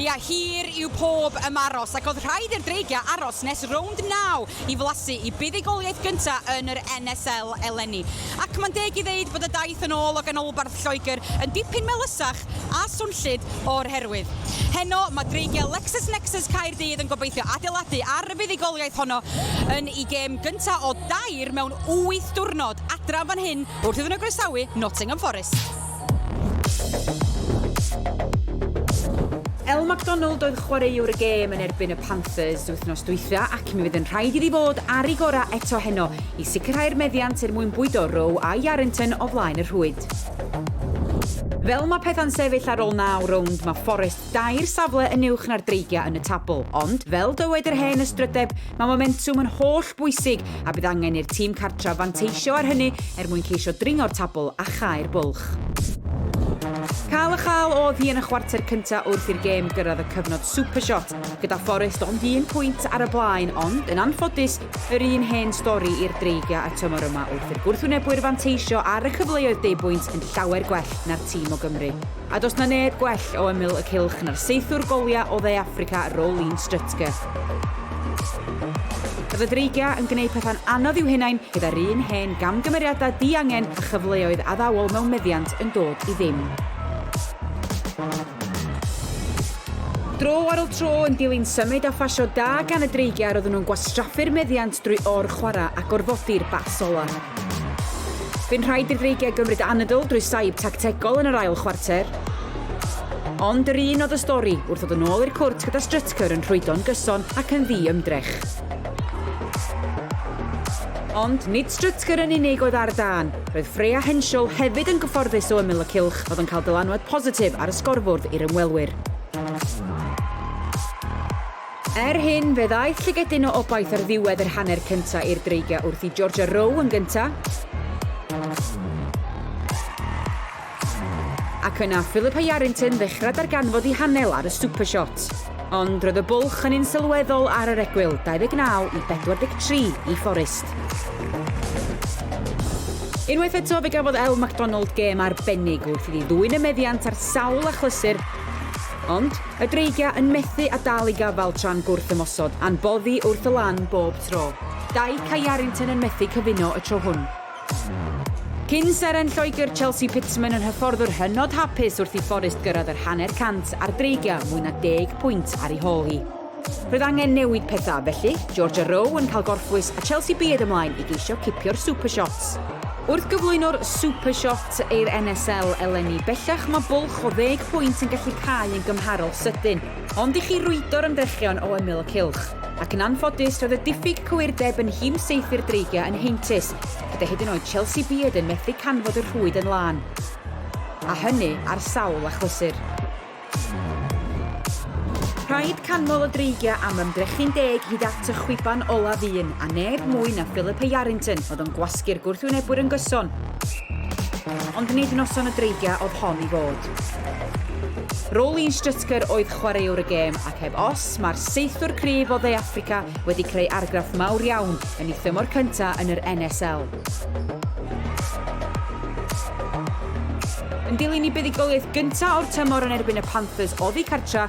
Ia, hir yw pob ymaros ac oedd rhaid i'r dreigiau aros nes rownd naw i flasu i buddugoliaeth gyntaf yn yr NSL eleni. Ac mae'n deg i ddeud bod y daith yn ôl o ganolbarth Lloegr yn dipyn melysach Connect a swnllyd o'r herwydd. Heno, mae dreigiau LexisNexis Caerdydd yn gobeithio adeiladu ar y fuddugoliaeth honno yn eu gêm gyntaf o dair mewn wyth diwrnod adra yn fan hyn wrth iddyn nhw groesawu Nottingham Forest. Elle Macdonald oedd chwaraewr y gêm yn erbyn y Panthers wythnos dwytha ac mi fydd yn rhaid iddi fod ar ei gorau eto heno i sicrhau'r meddiant er mwyn bwydo Rowe a Yarrington o flaen y rhwy. Fel mae pethau'n sefyll ar ôl naw rownd, mae Forest dair safle yn uwch na'r Dreigiau yn y tabl, ond, fel dywed yr hen ystrydeb, mae momentwm yn holl bwysig a bydd angen i'r tîm cartref fanteisio ar hynny er mwyn ceisio dringo'r tabl a chau'r bwlch. Cael a chael oedd hi yn y chwarter cyntaf wrth i'r gêm gyrraedd y cyfnod supershot, gyda Forest ond un pwynt ar y blaen ond, yn anffodus, Yr un hen stori i'r Dreigiau y tymor yma wrth i'r gwrthwynebwyr fanteisio ar y cyfleoedd deuobwynt yn llawer gwell na'r tîm o Gymru. A does 'na neb gwell o ymyl y cylch na'r saethwr goliau o Dde Affrica Roelien Strutger. Roedd y Dreigiau yn gwneud pethau'n anodd i'w hunain gyda'r un hen gamgymeriadau diangen a chyfleoedd addawol mewn meddiant yn dod i ddim. Dro ar ol tro yn dilyn symud a phasio da gan y dreigiau roedden nhw'n gwastraffu'r meddiant drwy or-chwarae a gorfodi'r bas ola. Bu'n rhaid i'r dreigiau gymryd anadl drwy saib tactegol yn yr ail chwarter. Ond yr un oedd y stori wrth ddod yn ôl i'r cwrt gyda Strutker yn rhwydo'n gyson ac yn ddi-ymdrech. Ond nid Strutker yn unig oedd ar dân. Roedd Freya Henschel hefyd yn gyfforddus o ymyl y cylch, oedd yn cael dylanwad positif ar y sgorfwrdd i'r ymwelwyr. Er hyn, fe ddaeth llygedyn o obaith ar ddiwedd yr hanner cyntaf i'r dreigiau wrth i Georgia Rowe yn gyntaf. Ac yna Philippa Yarrington ddechrau darganfod i hanel ar y Super Shot. Ond roedd y bwlch yn un sylweddol ar yr egwyl, 29 i 43 i Forest. Unwaith eto fe gafodd Elle McDonald gêm arbennig wrth iddi ddwyn y meddiant ar sawl achlysur, ond y Dreigia yn methu a dal i gafal tra'n gwrth ymosod a'n boddi wrth y lan bob tro. Dyke a Yarrington yn methu cyfuno y tro hwn. Cyn seren Lloegr, Chelsea Pitman yn hyfforddwr hynod hapus wrth i Forest gyrraedd yr hanner cant ar dreigliau mwy na deg pwynt ar ei hôl hi. Roedd angen newid pethau, felly, Georgia Rowe yn cael gorffwys a Chelsea Beard ymlaen i geisio cipio'r Super Shots. Wrth gyflwyno'r Super Shot i'r NSL eleni, bellach mae bwlch o ddeg pwynt yn gallu cau yn gymharol sydyn. Ond i chi rwydo'r ymdrechion o ymyl y cylch. Ac yn anffodus, roedd y diffyg cywirdeb yn nhîm saethu'r Dreigiau yn heintus, gyda hyd yn oed Chelsea Beard yn methu canfod y rhwyd yn lân. A hynny ar sawl achlysur. Rhaid canmol y Dreigiau am ymdrechu'n deg hyd at y chwiban olaf un, a neb mwy na Philippa Yarrington oedd yn gwasgu'r gwrthwynebwyr yn gyson. Ond nid noson y Dreigiau oedd hon i fod. Roline Strutker oedd chwaraewr y gêm ac heb os, mae'r seithwr cryf o Dde Affrica wedi creu argraff mawr iawn yn ei thymor cyntaf yn yr NSL. Yn dilyn i buddugoliaeth gyntaf o'r tymor yn erbyn y Panthers oddi cartra,